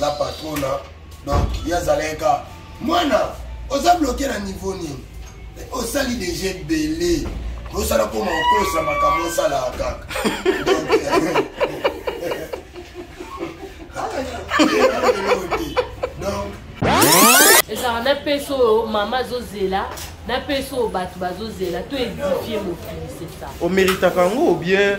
la patrona donc ye azalaki ka mwana oza bloke na niveau nini osali deja ebele osala koma okosa makambo osalaka kaka ezalaka na pese oyo mama azozela na pese oyo bato bazozela to edifie mokili sesa omeritaka yango obien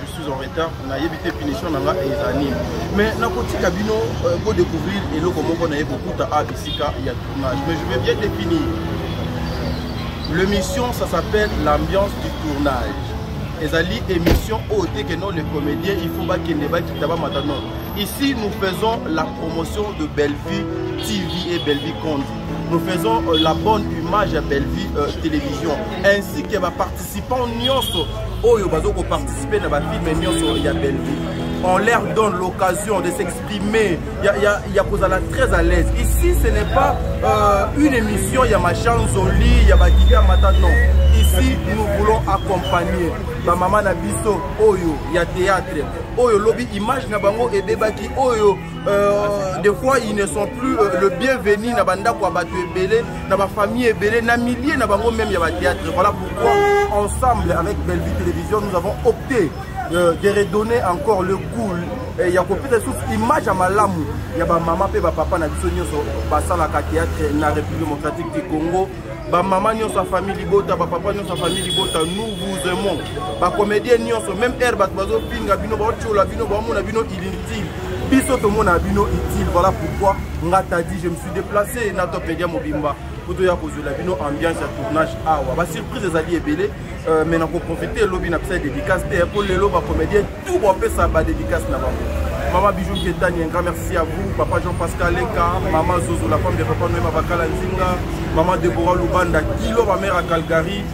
je suis en retard nayebi te punition na nga eza nini mais nakotika bino euh, ko découvrir eloko moko naye kokuta a bisika ya tournage mais je vais bien définir l'émission ça s'appelle l'ambiance du tournage ezali émission oyo te que non les comédiens il faut bakende bakita bamata non ici nous faisons la promotion de bellevue tv et bellevue conte nous faisons euh, la bonne image ya bellevue euh, télévision ainsi que baparticipe participants nyonso oyo bazo ko participer na ba films nyonso ya Bellevue on leur donne l'occasion de s'exprimer ya, ya, ya kozala très à l'aise ici ce n'est pas euh, une émission ya machanzoli ya bakika mata non ici nous voulons accompagner bamama na biso oyo ya théâtre oyo lobi image na bango ebebaki oyo euh, des fois ils ne sont plus euh, le bienvenu na bandako ya bato ebele na bafamille ebele na milieu na bango meme ya batheatre voilà pourquoi ensemble avec bellevue télévision nous avons opté euh, de redonner encore le goût eh, ya kopesa lisusu image ya malamu ya bamama mpe bapapa na biso nyonso basalaka théâtre na république démocratique du congo bamama nyonso ya famille libota bapapa nyonso ya famille libota nous vous aimons bacomédien nyonso même heure bato bazofinga bino baotyola bino baomona bino inutile biso tomona bino utile voilà pourquoi nga tadi je me deplace na topedia mobimba mpo toya kozwela bino ambiance ya tournage awa basurprise ezali ebele euh, mai nakoprofite elobi na pesa dédicace te mpo lelo bacomédien tout bapesa badédicace na bango mama bijou ketani un grand merci à vous papa jean pascal leka mama zozo la femme de papa noema bakala nzinga mama debora lubanda kilo bamere ya calgary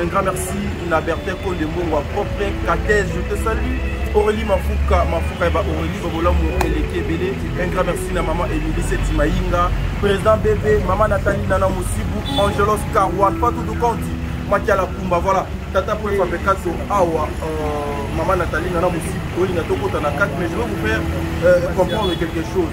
Un grand merci na Bertin Konde Mbongwa propre Katej, je te salue. Aurélie Mafuka, Mafuka et bah, Aurélie Bobolamu Eleki Ebele. Un grand merci na maman Emilie Seti Maïnga, président bébé, maman Nathalie Nana Moussibou, Angelos Karouan, Patou Doukanti, Makiala Kumba, voilà. Tata pour les Fabekato, Awa, euh, maman Nathalie Nana Moussibou, Oli Natokota na 4, mais je vais vous faire euh, comprendre quelque chose.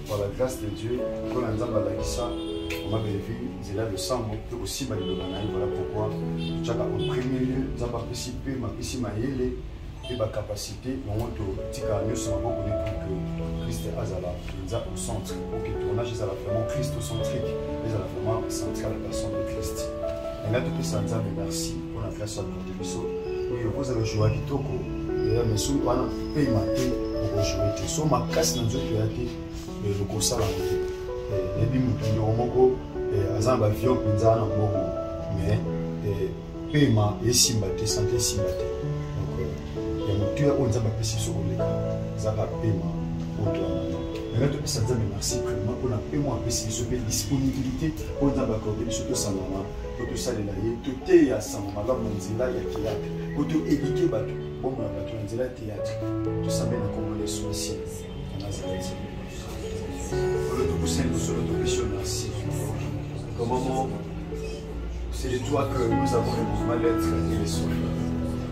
par la grâce de dieu mpo na nzambe alakisa mama belleville nzela ya losambo mpe kosimba liloba na ye voilà pourquoi totyaka en premier lieu nzambe apesi mpe mapesi mayele mpe bacapacité yango totika nyonso maboko ne pour que christ azala mpenza au centre pour que tournage ezala vraiment christocentrique ezala vraiment central ya personne de christ engai topesa nzambe merci mpo na grâce ya biso oyo okozala joa kitoko ya mesu wana mpe mate okojoue te so makasi na nzoto ya te okosala te nayebi moto ndeko moko aza na bavio mpenza na mbongo mais pema esimba te sante esimba te donc ya motuya oyo nzambe apesi biso koleka ezaka pema otwana yango topesa nzambe merci vraiment mpona pema apesi biso mpe disponibilité oyo nzambe akorde biso tosangana mpo tosalela ye toteya sango malamu na nzela ya teyatre mpo toedike bato bomona bato na nzela ya teyatre tosambe na nkombo na yesu masiya ya nazareti oyo tokosani mosolo topesi yo merci au moment c'est de toi que nous avons le mouvement lettre et les soins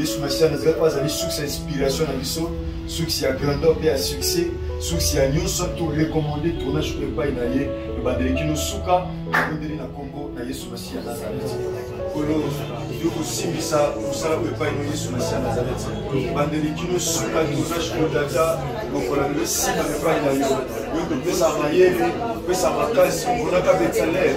yesu masiya nazali oyo azali source ya inspiration na biso source ya grandeur mpe ya succès source ya nyonso torecommande tournage oyo epai na ye ebandeli kino suka ebondeli na nkombo na yesu masiya nazareti kolo yo kosimbisa mosala oyo epai na yesu masiya nazareti ebandeli kino suka tournage oyo data lokola nde nsima epai na yo yo kopesa mayele kopesa makasi omonaka betsalele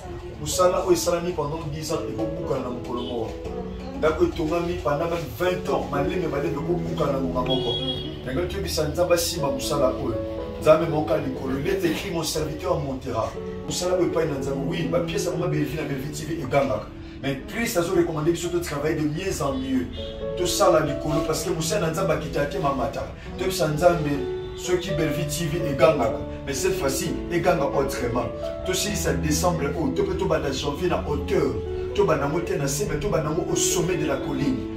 mosala oyo esalami pendant 10 ans ekobukana na mokolo moko ndako etongami pendant meme 20 ans malembe malembe ekobukana na ngonga moko yango toyebisa nzambe asimba mosala oyo nzambe moka likolo il est écrit mon serviteur montera mosala oyo epai na nzambe wi bapiese yango mabevi na belvi tv egangaka mais christ azo recommande biso to travaille de mieux en mieux tosala likolo parce que mosali na nzambe akitaka te mamataka toyebisa nzambe soki bellevie tv egangaka mais cette fois-ci eganga autrement tosilisa décembre oyo to mpe tobanda janvier na hauteur tobanda yango te na se mais tobanda yango au sommet de la colline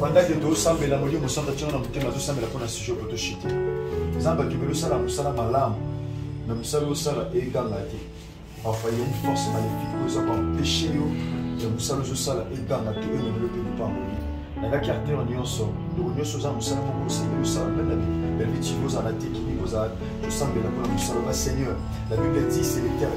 bandaki tosambela molimo mosantu atyanga na motema tosambela mpo na sujet po toshite nzambe akimeli osala mosala malamu na mosala osala eganga te parfois ya une force maléfique oyo eza koempeshe yo ya mosala ozosala eganga te oyo ememelo mpe lopango ye nalaki acteur nyonso ndoko nyonso oza mosala moko osengeli osala mpe na belle vie ozala te kini kozala tosambela mpo na mosala ba seigneur la bible dit c'est le terre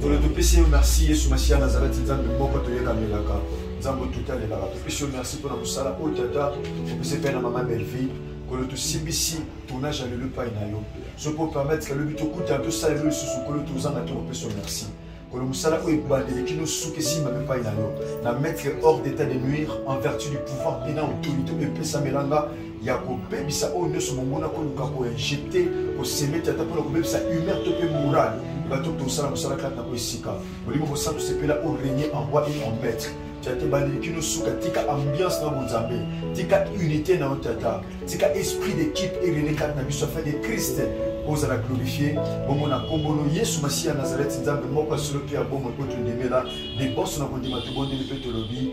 tolo topesi yo merci yesu masiya nazalaki nzambe moko toyekamelaka nzambe otutalelaka topesi yo merci mpo na mosala oyo tata topesi mpe na mama belleville kolo tosimbisi tournage ya lelo epai na yo soki opermettre kalobi tokutana tosala lelo lisusu kolo tozanga te kopesa yo merci kolo mosala oyo ebandeli kino suka esimba mpe epai na yo na mettre hors d'état de nuire en vertu du pouvoir mpe na autorité oyo epesamelanga ya kobebisa oyo nyonso monguna koluka koinjecte kosemete ata mpona kobebisa humeur to mpe morale bato tosala mosala kati na po esika molimo mosantu sepela o regne en roi et en maître tata bandeli kino suka tika ambiance na bonzambe tika unité na yo tata tika esprit d'équipe erene kati na biso afin de christ ozala glorifie bongo na nkombo no yesu masiya ya nazareti nzambe moko ya solo mpe ya bomoi mpo tondimela liboso na kondima tobondeli mpe tolobi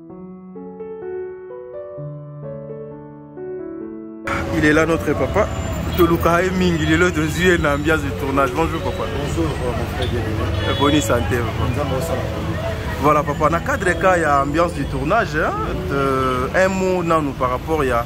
Il est là notre papa. toluka ye mingi lelo tozwi ye na ambiance du tournage bonjour papa bonjour euh, mon frère bien boni santé voilà papa na cadre ka ya ambiance du tournage hein, de, un mot nanu par rapport ya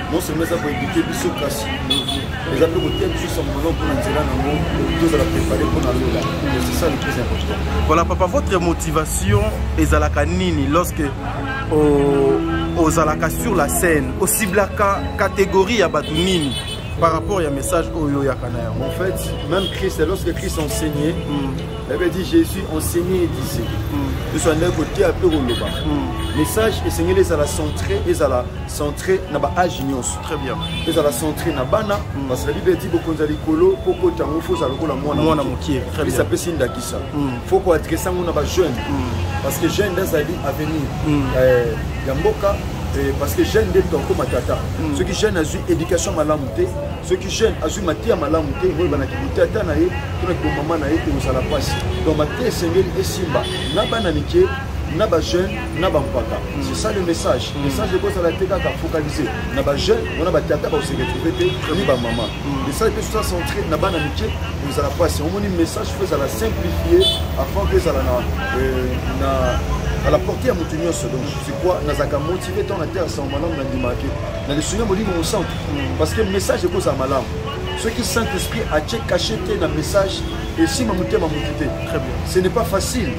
non seulement eza koedike biso kasi eza mpe kotia biso sangono mpona nzela nango tozala prépare mpona lola c'est ça le plus important voilà papa votre motivation ezalaka nini lorsque ozalaka sur la scène osiblaka catégorie ya bato nini par rapport ya message oyo oyaka na yango en fait même christ lorsque christ enseignait mm. avait dit jésus enseignait disait biso andaki koteya mpe koloba message esengeli ezala centré ezala centré na ba age nyonso très bien ezala centré na bana mm. parce que la bible dit bokonza likolo po kota ngo faut za lokola mwana mwana mokie très bien ça peut si ndakisa mm. faut ko adresser ngo na ba jeune mm. parce que jeune ezali avenir euh ya mboka eh, parce que jeune nde toko matata soki jeune azwi éducation malamu te soki jeune azwi mateya malamu te oyo banaki botata na ye to na kibomama na ye ekozala mpasi donc mateya esengeli esimba na bana mike na bajeune na bampaka c'est ça le message mm. message ekozala te kaka focalise na bajeune wana batata bakose retrouve te ni bamama mm. message mpe soza centre na bana mike ezala mpasi omoni message fo ezala simplifie afin ke ezala na euh, à la portée ya moto nyonso donc c'est quoi nazalaka motive ntango nateya sango malamu nandimaki na lisungi ya molimo mosantu mm. parce que message ekozala malamu soki saint esprit atie cache te na message esimba motema motu te ce n'est pas facile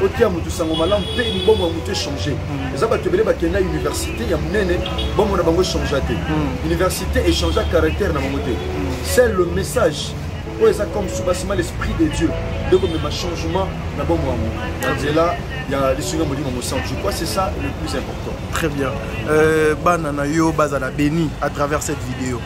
otia moto sango malamu mpe libongo ya moto echange hmm. eza bato ebele bakenda université ya monene bongo na bango echangea te hmm. université echangea caractère na bango te hmm. c'est le message oyo eza comme soubassement l'esprit de dieu nde komema changement na bongo yango na nzela ya lisungi ya molimo mosantu je crois c'est ça le plus important très bien euh, bana na yo bazala béni à travers cette vidéo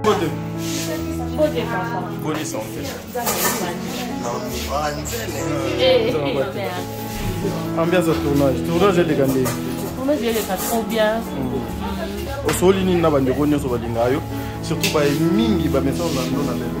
Mbote. Mbote papa. Bonne santé. Ambiance ya tournage. Tournage eleka ndenge. Tournage eleka trop bien. Mm. Osoli nini na bandeko nyonso balingaka yo surtout baye mingi bamesana na ndo na lelo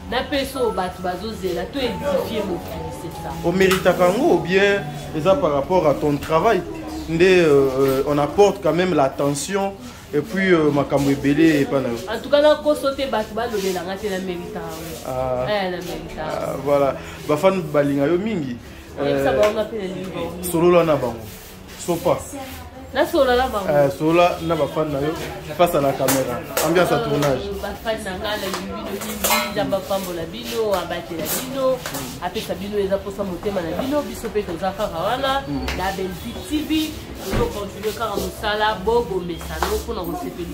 na pesa oyo bato bazozela to edifie bofinisesa omeritaka yango bien eza par rapport à ton travail nde euh, euh, on apporte quand même l'attention et puis euh, makambo ebele epa na yo en tout cas nakoso te bato balobela nga te na merita yango ah. eh, na merita ah, voilà bafani balinga yo mingi solola na bango sopa nasolola na bango eh, solola na bafani na yo face à la caméra ambiance ya euh, tournage bafani na ngai nalingi bino mingi nzambe apambola bino abatela bino apesa bino eza mposa motema na bino biso mpe toza kaka wana hmm. na belvi tv tozokontinue kaka mosala bobomesano mpo na kosepeli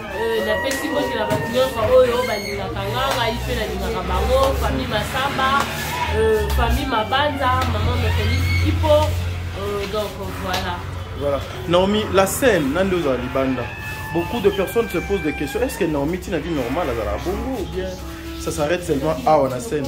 Euh, napesi mbote na bato nyonso oyo balingaka nga ngai mpe nalingaka bango famille masamba euh, famille mabanza mama mokonisi kipo euh, donc voilà voilà naomi la scène na nde ozala libanda beaucoup de personnes se posent des questions est ce que naomi tina vie normale azalaka bongo ou bien ça s'arrête seulement awa na scène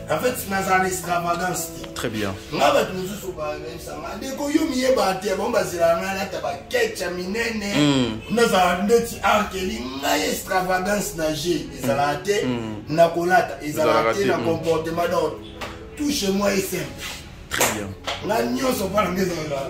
En fait, nazala extravagance te. Très bien. Nga bato mosusu bayebisa nga ndeko yo miyeba te bango bazela nga nata bakecha minene hmm. nazala ndeti arkeli ngai extravagance na je ezalaka te hmm. Hmm. na kolata ezalaka te na comportement donc tout chez moi est simple. Très bien. Nga nyonso mpona nga ezalaka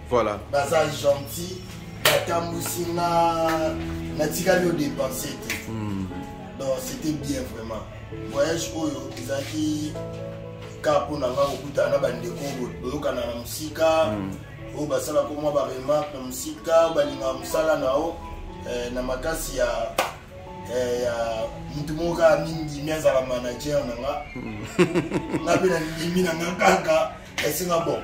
voilà baza gentil batambusi nga natikali odepense te hmm. donc c'était bien vraiment voyage oyo ezalaki ka mpo na nga kokutana na bandeko boyokana na mosika hmm. oyo basalaka mwa baremarke na mosika balingaka mosala na yo eh, na makasi ya eh, ya motu moko kaka mindimi azala manager na nga hmm. nga mpe na ndimi na nga kaka esinga bon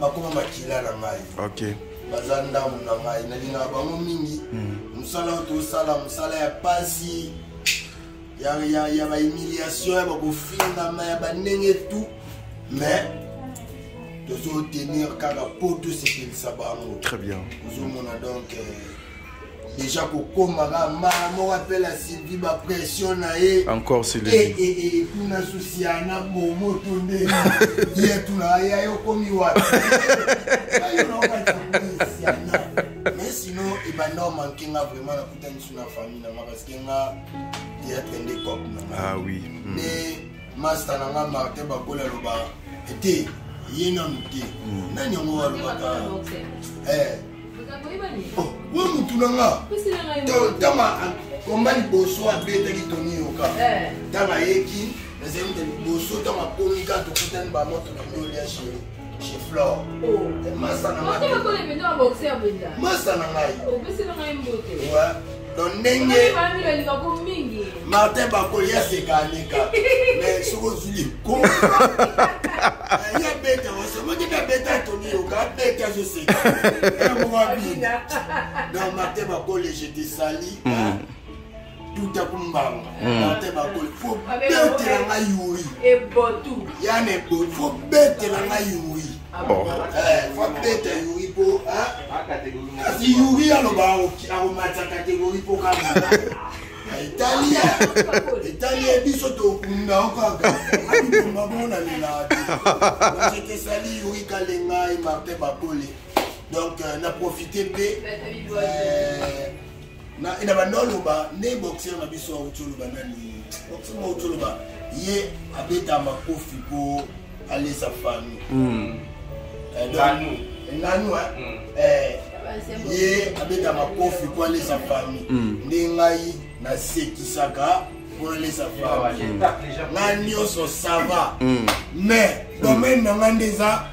bakoma makila na ngai okay. baza ndambo na ngai nalingaka bango mingi hmm. mosala oyo tosala mosala ya pasi ya, ya, ya bahumiliation ya bakofingama ya bandenge tu mais tozotenir kaka mpo tosepelisa bango très bien ozomona donc euh, deja kokoma kaka mbala moko apela sylvi bapression na ye encore silekuna eh, eh, eh, susi ya na bomo to nde ye tunaka ya yo komi wapi mais sinon ebanda omanke nga vraiment nakutani su na famille na nga parce que nga théâtre nde cop na nga ah oui hmm. nde master na nga martin bakola aloba ete ye nanu te hmm. nani yango alobaka oh, oyo mutu na nga tama komba liboso abetaki toni yoka ntango eh. ayeki nazali nde liboso ntango akomi ka tokutani bamoto na bino lia sheri chez Flore. Oh. Masa na ngai. Masa na ngai. Oh, donc ndenge martin bakoli aseka aleka mais soki ozwi likoma ye abeta osomoki mpe abeta toni yoka abeta azoseka yango abina donc martin bakoli je te sali hmm. tuta kumbanga hmm. martin bakoli fo betela ngai yuri yane fo betela ngai yuri Oh. kasi yuri aloba akomata kategori mpo kaka etali etali ye biso tokunda o kaka abitumba bongo na lelate ekesali yuri kalengai martin bakole donc euh, na profite mpe na na banda oloba nde boxeur na biso auti oloba nani boxeur auti oloba ye abeta makofi mpo alesa fami hmm. eh, nanu nanu eh? hmm. eh, ye abeta makofi mpo alesa fami hmm. nde ngai nasekisaka mpo alesa fami ngai nyonso sava mais domaine na ngai nde eza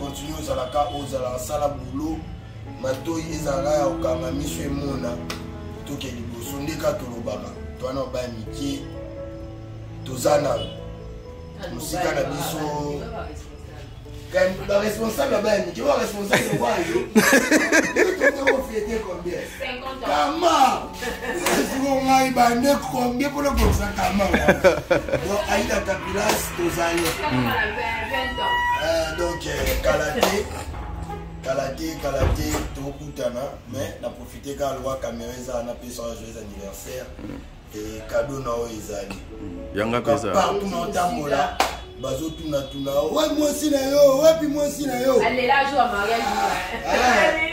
continue ozalaka ozala sala boulot matoyi ezalaka ya kokanga miso emona toke liboso nde ka tolobaka twana obaya mikie toza na mosika na biso baresponsable abaya mikie baresponsable wayo tokofete combien kama esiko ngai bande combien mpona kokisa kama don aida kapilas tozali hmm. eh, donc eh, kala te kala te kala te tokutana mais na profite kaka lwa camera eza na pesa joyeux anniversaire hmm. ekado na oyo ezali yanga pesa partout na otambola bazotunatuna we mwasi na yo wapi mwasi na yo alela jour ya mariage ah.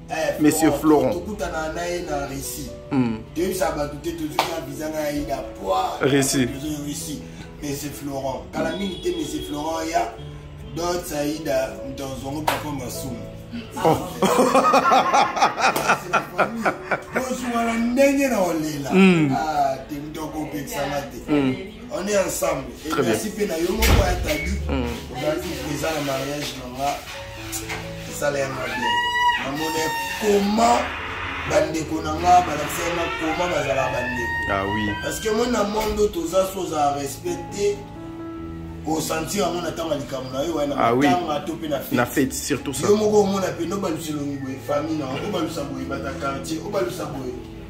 Eh, monsieur florent tokutana na ye na russie hmm. toyebisa bato te tozwi na visa na ye na poi russie monsieur florent kala mingi te monsieur florent ya dot saida mtanzongo papa masumu oh. kozwala ndenge na olela hmm. ah, te mtokopekisama te hmm. On est ensemble. Et Très merci bien. Pena Yomo pour être à lui. On a dit que ça, le mariage, maman, ça l'a bien. Maman, comment bandeko na nga balakisa nga koma bazala bandeko ah, oui. parce que moi na monde oyo toza so ozala respect te osentir yango na ntango ya likambo na yo wana ah, oui. to mpe na fete surtout ça yo moko omona mpe nobalusa elongi boye famille na obalusa boye bata quartier obalusa boye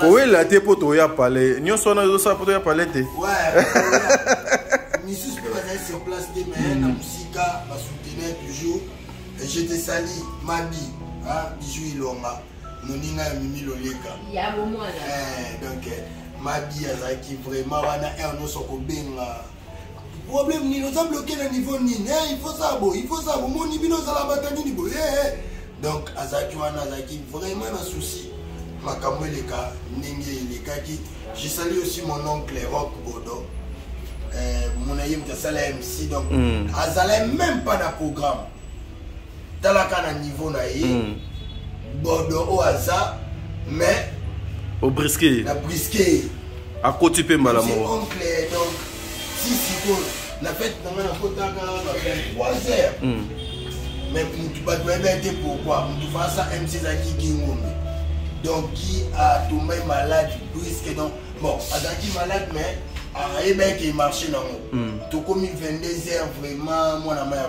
kowela te mpo toya pale nyonso wana ezosala mpo toya pale te misusu mpe bazali sur place te mais na mosika basoutenir toujours je te sali mabi bijou ilonga moninga ya mimi loleka donc mabi azalaki vraiment wana heure nyonso kobenga problème nini oza bloqué na niveau nini eh, il faut ça bo il faut ça bomoni bino ozala bata nini boye eh, eh. donc azalaki wana azalaki vraiment na souci makambo eleka ndenge elekaki je sali aussi mon oncle rock bodo eh, mona ye moto asala mc donc mm. azala même pas na programme talaka na niveau na ye mm. bodo oyo aza mais obriske ye na briske ye akoti mpe mbala moko oncle donc si sikoyo na fete na ngai nakotaka na 23 heures mm. mais mutu bato bayebi ete pourkoi mutu fasa mc ezalaki gingombe donc ki atombai malade briske donc bon azalaki malade mais ayebaki ke marché nango mm. tokomi 22 heures vraiment mwana ma ya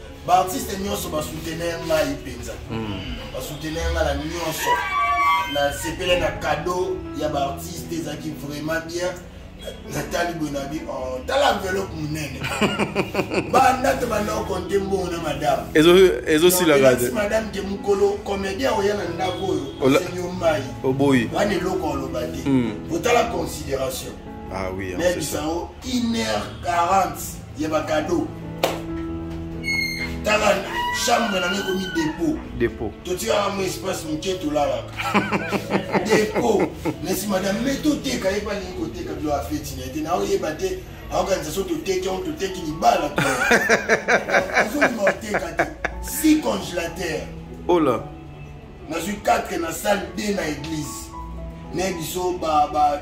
baartiste nyonso basoutenir ngai mpenza hmm. basoutenir ngai na nyonso nasepele na cadeau ya baartiste ezalaki vraiment bien natali boye na bi oh, tala enveloppe monene banda te banda okonte mbongo na madame ezosilaka te madame te mokolo comédien oya na ndako oyo osenyo mai oboyi wana eloko oloba te hmm. otala considération ah oui, mais bisango 1 heure 40 ya ba cadeau tala chambre nange ekomi dépôt dépôt totikaka mwa espace moke tolalaka dépôt nasi madame me toteka ye balingi koteka bilo afeti na ye te naoyeba te aokanisa so toteki yango toteki libala azonima oteka te si congélateur ola oh nazwi 4 na salle 2 na église naye biso ba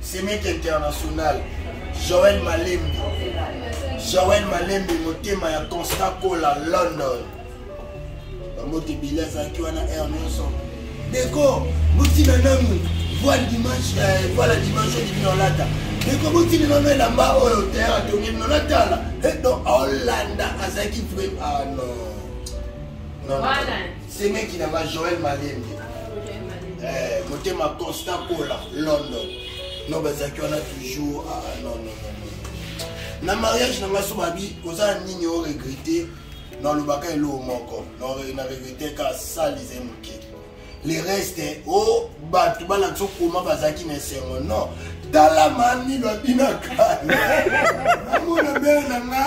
semeki international joel malembi joel malembi motema ya constant kola london bamoto ebele azalaki wana aire nyonso deko botina nanu voile dimanche eh, voile dimanche oyo libino olata deko botina nanu elamba oyo ter atongi bino natala edo eh, olanda azalaki vrai ah non, non, non. semeki na nga joel malembe eh, motema constant kola london no bazalaki wana toujours ah, ah non, non, non. na mariage na nga so babi oza na nini o regrete nalobaka eloo moko na regrete ka salise moke le reste o oh, bato balakisa okoma bazalaki na esengo non tala mami babinaka amona bele na nga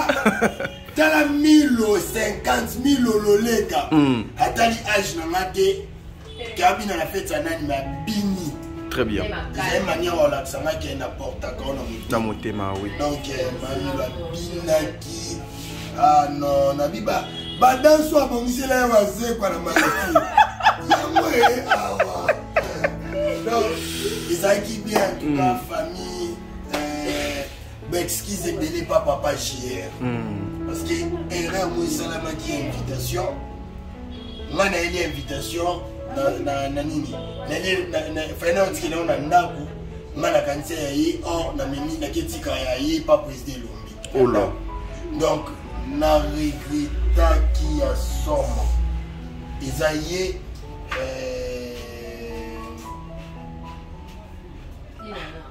tala milo 50 milo loleka mm. atali age na nga te kabina na feti ya nani mabini très bien ezali manière olakisa nga ke naportaka ona na motema oui donc eh, mamilo abinaki ah non nabiba badanso abongisela ye wazekwa na malaki yango e eh, awa ah, donc ezalaki bien tuka mm. famille ba excuse ebele pa papa jr hmm. parce que erreur mo esalamaki ya invitation nga nayeli ya invitation na nini fai naotikela yo na ndako nga nakanisa ya ye or namemi naketika ya ye pa président elombi ola donc na regretaki ya somo eza ye euh,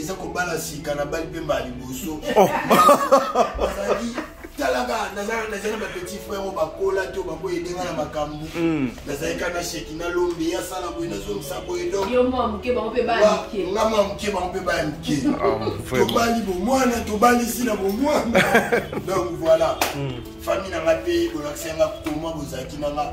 eza kobala sika na bali mpe mbala liboso oh. azalaki talaka nazalaki na bapetit frère oyo bakola to bakoya edenga na makambo hmm. nazalaki kaka na sheki na lombe ye asala boye nazongisa boye donga mwa moke bango mpe baya moke ah, tobali bomwana tobalisi na bomwana donc voilà hmm. famille na ngai mpe bolakisa nga koma bozalaki na nga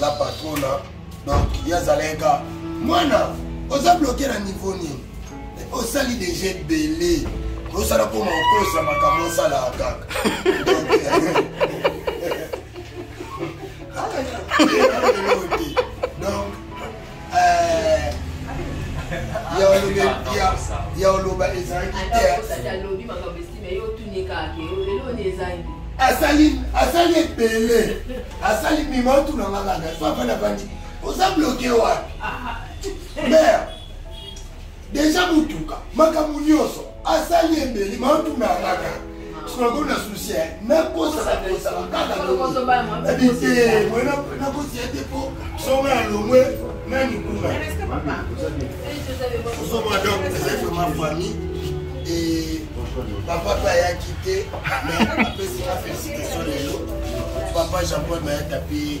la patrona donc ye azalaki ka mwana oza bloke na niveau nini osali deja ebele osala koma okosa makambo osalaka kaka ya oloba ezalaki asali asali ebele asali mima otuna nga kaka so afanda bandi oza bloke wapi ah, ah. mare deja motuka makambo nyonso asali ebeli maotunangaka sikoyo na susi eh. nakosaka kosaka kaka bite mwe nakosia te mpo soma ya longwe nani kuna osoma donc ezali vraiment famille e papa mpe ayaki te mais apesi na félicitation lelo papa jean paul mayata mpe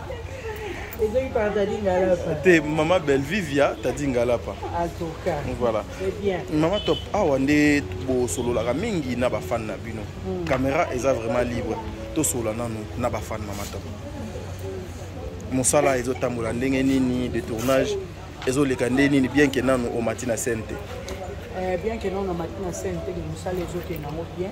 ezongi par tadi ngalapa te mama bellevue via tadi ngalapa voilà mama top awa nde bosololaka mingi na bafane na bino hmm. caméra eza vraiment libre tosolola nanu na bafane mama top mosala ezotambola ndenge nini de tournage ezoleka nde nini bien ke nanu omati na scène te eh, bien ke nanu omati na scène te mosala ezokende yango bien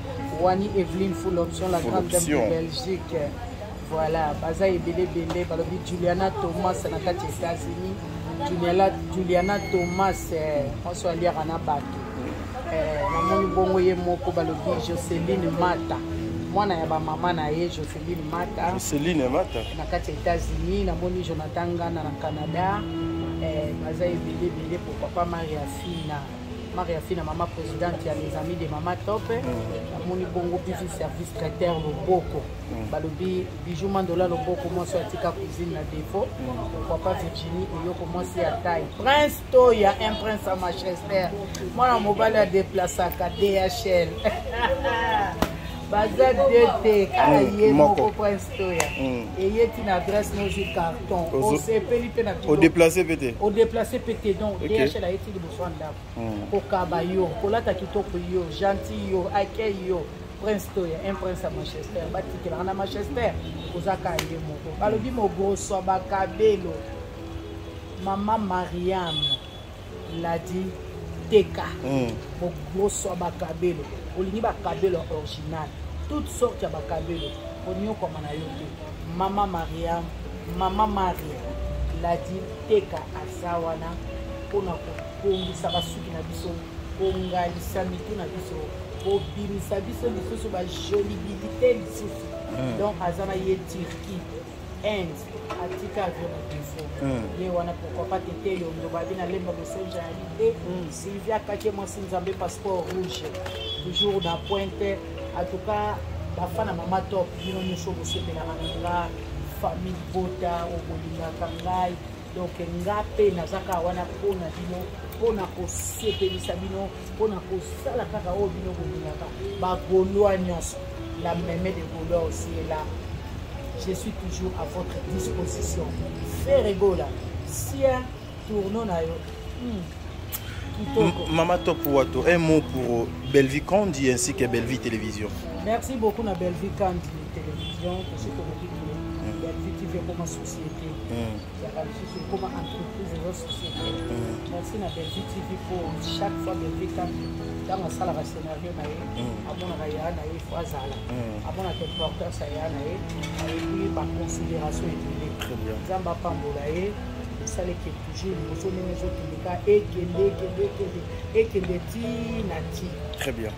wani eveline full option la grande dame de belgique voilà baza ebele ebele balobi juliana thomas na kati ya états-unis juliana, juliana thomas eh, oso aliaka na bato eh, namoni bongo ye moko balobi joceline mata mwana ya bamama na ye joceline mata joceline mata na kati ya états-unis namoni jonathan ngana na canada eh, baza ebele ebele po papa maria fina Maria Fina, maman présidente ya les amis de maman top namoni mm. bongo bizu service traiteur loboko mm. balobi bijou mandola loboko mwasi atika cuisine na défaut mm. papa virginie eyoko mwasi ya taille prince to ya un prince ya manchester mwana mobali adeplasaka dhl baza de te kaka ye moko prince toya eye ti na adresse nozwi carton osepeli mpe na odeplace mpe te odeplace mpe te donc dhl ayetili zwa ndako hmm. kokaba yo kolata kitoko yo gentil yo accueil yo prince toya un prince ya manchester batikelaka na manchester oza ka ye moko balobi mogoswa bakabelo mama mariam ladi teka hmm. mogoswa bakabelo olingi bakabelo original toute sorte ya bakabelo onyokwama na yo te mama mariam mama maria ladi teka eza wana mpo na kobongisa basuki na biso kongalisa mitu na biso kobimisa biso lisusu bajolibilité lisusu hmm. donc aza na ye turquie inde atika avion na defaut hmm. ye wana pourquoi pas tete yondo babi na lemba message ya lite hmm. sylvia kake mwasi nzambe passeport rouge toujours na pointe en tout cas bafana mama top bino nyonso bosepelaka na nga famille bota okolingaka ngai donc nga mpe naza kaka wana mpo na bino mpo na kosepelisa bino mpo na kosala kaka oyo bino bolingaka bagolois nyonso la meme de golois aussi est là je suis toujours à votre disposition ferre egola sia tourno na yo hmm. Mama Top Wato, un mot pour Bellevue Candy ainsi que Bellevue Télévision. Merci beaucoup na Bellevue Candy Télévision, que je te Bellevue TV comme société ezalaka lisusu ekoma entreprise eza société merci na belvi tv mpo chaque fois belvi kati ntango asalaka scénario na ye amonaka ya na ye fo azala amonaka importance ya ya na ye ayebi baconsidération ebele nzambe apambola ye esalaki toujours liboso ndenge ezokende ka ekende ekende ekende ekende ti na ti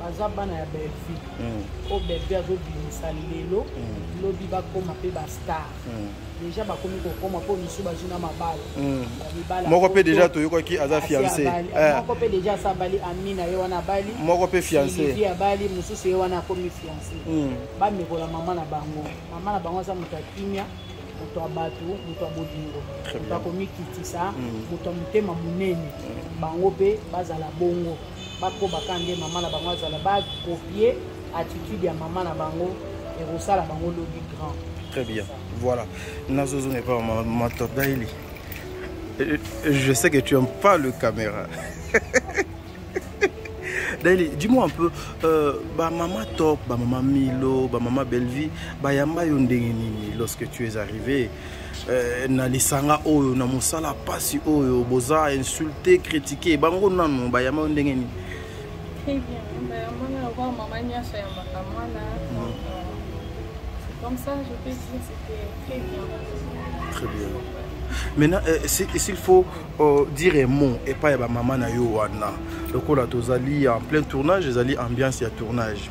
baza bana ya bellevue hmm. oyo bellevue azobimisa lelo hmm. lobi bakoma mpe bastar hmm. deja bakomi kokoma mpo misu bazwi na mabala moko mpe deja toyokaki aza fiance eh. moko mpe deja asa abali amina ye wana abali moko mpe fiance abali mosusu ye wana akomi fiance bamekola mama na bango mama na bango aza moto ya kimia moto ya bato moto ya bolingo moto akomikitisa moto ya motema monene bango mpe bazala bongo bakoba ka nde mama na bango azala bakopie attitude ya mama na bango ekosala bango lobi grand très bien voilà nazozonga epa mator daily euh, euh, je sais que tu aimes pas le caméra daily dis-moi un peu euh, bamama top bamama milo bamama bellevie bayamba yo ndenge nini lorsque tu es arrivé Eh, na lisanga oyo na mosala pasi oyo boza insulte critique bango nanu bayama yo ndenge nini Très bien. maintenant euh, s'il faut euh, dire un mot epai ya bamama na yo wana lokola tozali en plein tournage ezali ambiance ya tournage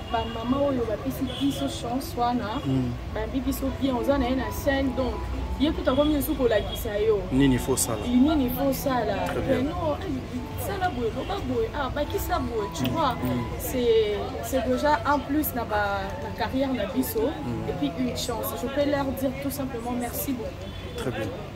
ba maman oyo bapesi biso chance wana hmm. babi biso bien oza na ye na chaine donc ye kuta komi esu kolakisa yo nini fosala nini fosala no sala boye loba boye ah bakisa boye tu hmm. vois hmm. c'est c'est déjà un plus na ba na carrière na biso et puis une chance je peux leur dire tout simplement merci beaucoup très bien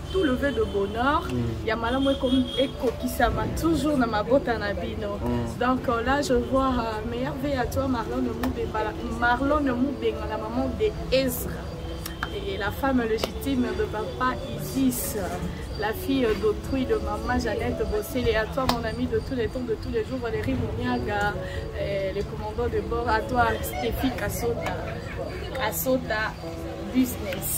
tout le vœu de bonheur mm. ya malamu ekokisama toujours na mabota na bino mm. donc euh, là je vois uh, meilleur vie à toi marlone mubengala marlone mubengala maman de ezra et la femme légitime de papa Isis, la fille d'autrui de maman Jeannette Bossel et à toi mon ami de tous les temps, de tous les jours, Valérie Mouniaga, euh, les commandants de bord, à toi Stéphie Kassota, Kassota Business.